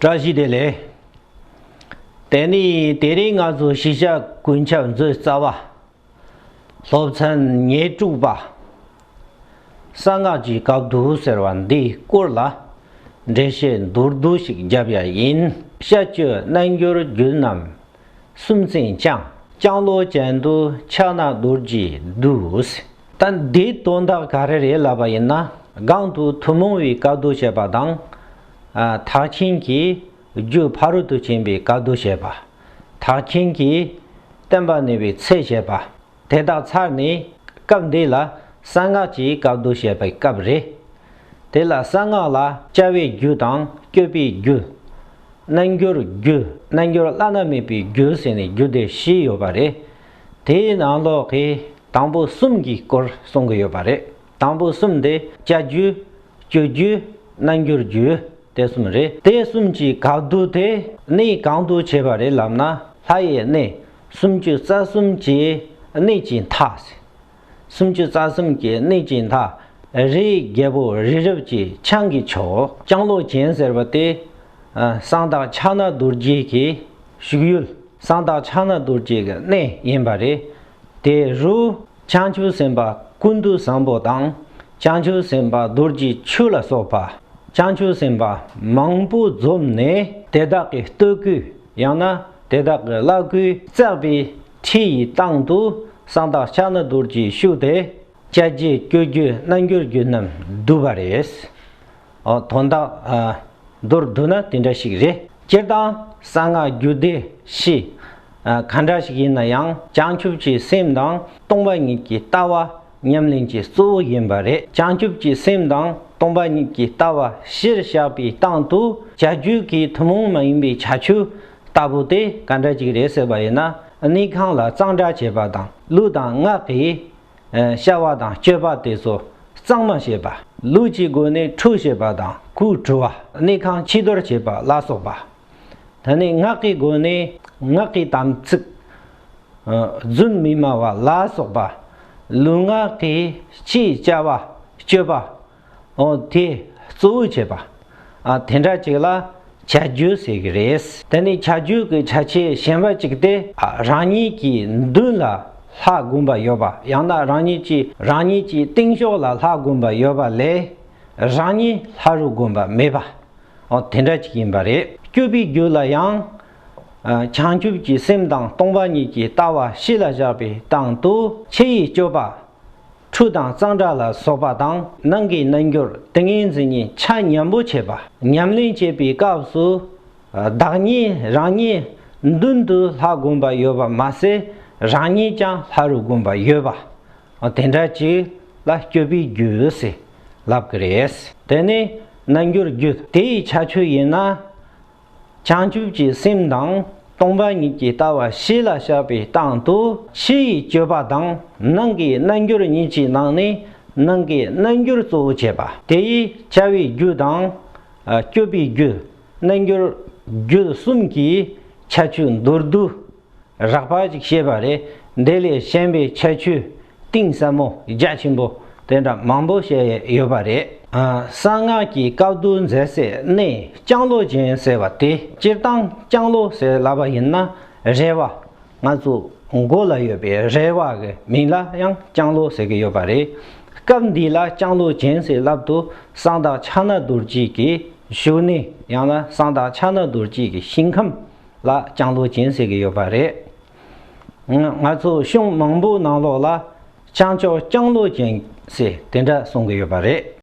བཀྲ་ཤིས་བདེ་ལེགས། དེ་ནས་དེ་རིང་ང་ཚོ་གཞིས་ཆགས་དགུན་ཆབ་མཛོད་རྩ་བ། སློབ་ཚན་ཉེར་དྲུག་པ། གསང་སྔགས་ཀྱི་བཀའ་བསྡུ་ཟེར་བ་འདི་བསྐོར་ལ་འགྲེལ་བཤད་མདོར་བསྡུ་ཞིག་བརྒྱབ་ཡ་ཡིན། བཤད་བཅོས་རྣལ་འབྱོར་རྒྱུད་རྣམས་སུམ་རྩེན་སྤྱང། སྤྱང་ལོ་ཅན་དུ་ཕྱག་ན་རྡོར་གྱིས་བསྡུས། ད་འདིའི་དོན་དག་ག་རེ་རེད་ལབ་པ་ཡིན་ན་སྒང་དུ་ཐུན་མོང་བའི་བཀའ་བསྡུ་བྱས་པ་དང། དག་ཆེན་གྱི་རྒྱུ་ཕ་རོལ་ཏུ་ཕྱིན་པའི་སྐལ་དུ་བྱེད་པ། དག་ཆེན་གྱི་བསྟན་པ་ནུས་པའི་ཚད་བྱེད་པ། དེ་དག་ཚར་ནས་སྐབས་འདི་ལ་གསང་སྔགས་ཀྱི་སྐལ་དུ་བྱེད་པའི་སྐབས་རེད། དེ་ལ་གསང་སྔགས་ལ་བཅའ་བའི་རྒྱུ་དང་བསྐྱོད་པའི་རྒྱུ། རྣལ་འབྱོར་རྒྱུ་རྣལ་འབྱོར་བླ་ན་མེད་པའི་རྒྱུ་ཟེར་ནས་རྒྱུ་སྡེ་བཞི་ཡོད་པ་རེད། དེའི་ནང་ལོགས་ཀྱི་དང་པོ་གསུམ་གྱི་སྐོར་གསུང་གི་ཡོད་པ་རེད། དང་པོ་གསུམ་དེ་བཅའ་རྒྱུ། སྤྱོད་རྒྱུ། གནང་རྒྱུར་རྒྱུ། དེ་གསུམ་རེད། དེ་གསུམ་གྱི་གག་བསྡུར་དེ་གནས་གང་དུ་བྱས་པ་རེད་ལབ་ན་ལྷ་ཡི་གནས་སུམ་བཅུ་རྩ་གསུམ་གྱི་གནས་ཀྱི་མཐའ། སུམ་བཅུ་རྩ་གསུམ་གྱི་གནས་ཀྱི་མཐའ། རིའི་རྒྱལ་པོ་རི་རབ་ཀྱི་ཆང་གི་ཕྱོགས། ལྕང་ལོ་གྱེན་ཟེར་བ་དེ། གསང་བདག་ཕྱག་ན་རྡོ་རྗེ་གི་བཞུགས་ཡུལ་གསང་བདག་ཕྱག་ན་རྡོ་རྗེ་གི་གནས་ཡིན་པ་རེད། དེ་རུ་བྱང་ཆུབ་སེམས་དཔའ་ཀུན་ཏུ་བཟང་པོ་དང། བྱང་ཆུབ་སེམས་དཔའ་རྡོ་རྗེ་ཆུ་ལ་སོགས་པ་བྱང་ཆུབ་སེམས་དཔའ་མང་པོ་འཛོམས་ནས་དེ་དག་གི་སྟོད་སྐུ་ཡང་ན་དེ་དག་གི་བླ་སྐུའི་བརྩེགས་པའི་ཁྲི་ཡི་སྟེང་དུ་གསང་བདག་ཕྱག་ན་རྡོ་རྗེ་བཞུགས་ཏེ། བཅད་རྗེས་སྐྱོད་རྒྱུ་སྣ་འགྱུར་རྒྱུ་རྣམས་བསྡུ་བ་རེད། དོན་དག་མདོར་བསྡུ་ན་དེ་འདྲ་ཞིག་རེད། སྤྱིར་བཏང་གསང་སྔགས་རྒྱུད་སྡེ་བཞི། ག་འདྲ་ཞིག་ཡིན་ན་ཡང་བྱང་ཆུབ་ཀྱི་སེམས་དང་སྟོང་པ་ཉིད་ཀྱི་ལྟ་བ་ཉམས་ལེན་གྱི་གཙོ་བོ་ཡིན་པ་རེད། བྱང་ཆུབ་ཀྱི་སེམས་དང་སྟོང་པ་ཉིད་ཀྱི་ལྟ་བ་གཞིར་བཞག་པའི་སྟངས་དུ་བྱ་རྒྱུད་ཀྱི་ཐུན་མོང་མ་ཡིན་པའི་བྱ་ཆུ་ལྟ་བུ་དེ་ག་འདྲ་ཞིག་རེད་ཟེར་བ་ཡིན་ན་གནས་ཁང་ལ་གཙང་སྦྲ་བྱེད་པ་དང་ལུས་དང་ངག་གི་བྱ་བ་དང་སྤྱོད་པ་དེ་ཚོ་གཙང་མ་བྱེད་པ། ལུས་ཀྱི་སྒོ་ནས་ཁྲུས་བྱེད་པ་དང་ཁུ་བྲུ་བ། གནས་ཁང་ཕྱི་དོར་བྱེད་པ་ལ་སོགས་པ། ད་ནི་ངག་གི་སྒོ་ནས་ངག་གི་དམ་ཚིག། རྫུན་མི་སྨྲ་བ་ལ་སོགས་པ། ལུས་ངག་གིས་ཅི་བྱ་བ་སྤྱོད་པ། ཨོ་དེ་གཙོ་བོའི་བྱེད་པ། དེ་འདྲ་ཅིག་ལ་བྱ་རྒྱུད་ཟེར་གྱི་རེད། དེ་ནི་བྱ་རྒྱུད་ཀྱི་བྱ་བྱེད་གཞན་པ་ཅིག་སྟེ། རང་ཉིད་ཀྱི་མདུན་ལ་ལྷ་བསྒོམ་པ་ཡོད་པ་ཡང་ན་རང་ཉིད་ཀྱི་རང་ཉིད་ཀྱི་སྟེང་ཕྱོགས་ལ་ལྷ་བསྒོམ་པ་ཡོད་པ་ལས་རང་ཉིད་ལྷ་རུ་བསྒོམ་པ་མེད་པ། ཨོ་དེ་འདྲ་ཅིག་ཡིན་པ་རེད། སྐྱོབ་པའི་རྒྱུད་ལ་ཡང། བྱང་ཆུབ་ཀྱི་སེམས་དང་སྟོང་པ་ཉིད་ཀྱི་ལྟ་བ་གཤིས་ལ་བཞག་པའི་སྟེང་དུ་ཕྱི་ཡི་སྤྱོད་པ། ཁྲུས་དང་གཙང་སྦྲ་ལ་སོགས་པ་དང་ནང་གི་རྣལ་འབྱོར་ཏིང་ངེ་འཛིན་གཉིས་ཆ་མཉམ་པོ་བྱེད་པ། ཉམས་ལེན་བྱེད་པའི་སྐབས་སུ། བདག་ཉིད་རང་ཉིད་མདུན་དུ་ལྷ་བསྒོམ་པ་ཡོད་པ་མ་ཟད་རང་ཉིད་ཀྱང་ལྷ་རུ་བསྒོམ་པ་ཡོད་པ། དེ་འདྲ་གཅིག་ལ་སྐྱོབ་པའི་རྒྱུ་ཟེར་ལབ་ཀི་རེད། དེ་ནི་རྣལ་འབྱོར་རྒྱུ་དེའི་ཁྱད་ཆོས་ཡིན་ན། བྱང་ཆུབ་ཀྱི་སེམས་དང་སྟོང་པ་ཉིད་ཀྱི་ལྟ་བ་གཞི་ལ་བཞག་པའི་སྟངས་དུ་ཕྱི་ཡི་སྤྱོད་པ་དང་ནང་གི་རྣལ་འབྱོར་ཉིད་ཀྱི་ནང་ནས་ནང་གི་རྣལ་འབྱོར་གཙོ་བོ་བྱེད་པ་དེ་ཡི་བྱ་བའི་རྒྱུ་དང། སྤྱོད་པའི་རྒྱུ། རྣལ་འབྱོར་རྒྱུད་གསུམ་གྱི་ཁྱད་ཆོས་མདོར་བསྡུས། རགས་པ་ཅིག་བཤད་པ་རེད། དེ་ལས་གཞན་པའི་ཁྱད་ཆོས་གཏིང་ཟབ་མོ་རྒྱ་ཆེན་པོ་དེ་འདྲ་མང་པོ་བཤད་ཡོད་པ་རེད། གསང་སྔགས་ཀྱི་བཀའ་བསྡུ་མཛད་སའི་གནས་ལྕང་ལོ་ཅན་ཟེར་བ་དེ་སྤྱིར་བཏང་ལྕང་ལོ་ཟེར་སླ་བ་ཡིན་ན་རལ་བ། ང་ཚོ་མགོ་ལ་ཡོད་པའི་རལ་བ་གི་མིང་ལ་ཡང་ལྕང་ལོ་ཟེར་གྱི་ཡོད་པ་རེད། སྐབས་འདི་ལ་ལྕང་ལོ་ཅན་ཟེར་ལབ་དུ་གསང་བདག་ཕྱག་ན་རྡོར་སྐྱིད་ཀྱི་བཞུགས་གནས་ཡང་ན་གསང་བདག་ཕྱག་ན་རྡོར་སྐྱིད་ཀྱི་ཞིང་ཁམས་ལ་ལྕང་ལོ་སྦྱིན་ཟེར་གྱི་ཡོད་པ་རེད། ང་ཚོ་གཞུང་མང་པོའི་ནང་ལོགས་ལ་ལྕང་སྐྱོགས་ལྕང་ལོ་སྦྱིན་ཟེར་དེ་འདྲ་གསུང་གི་ཡོད་པ་རེད།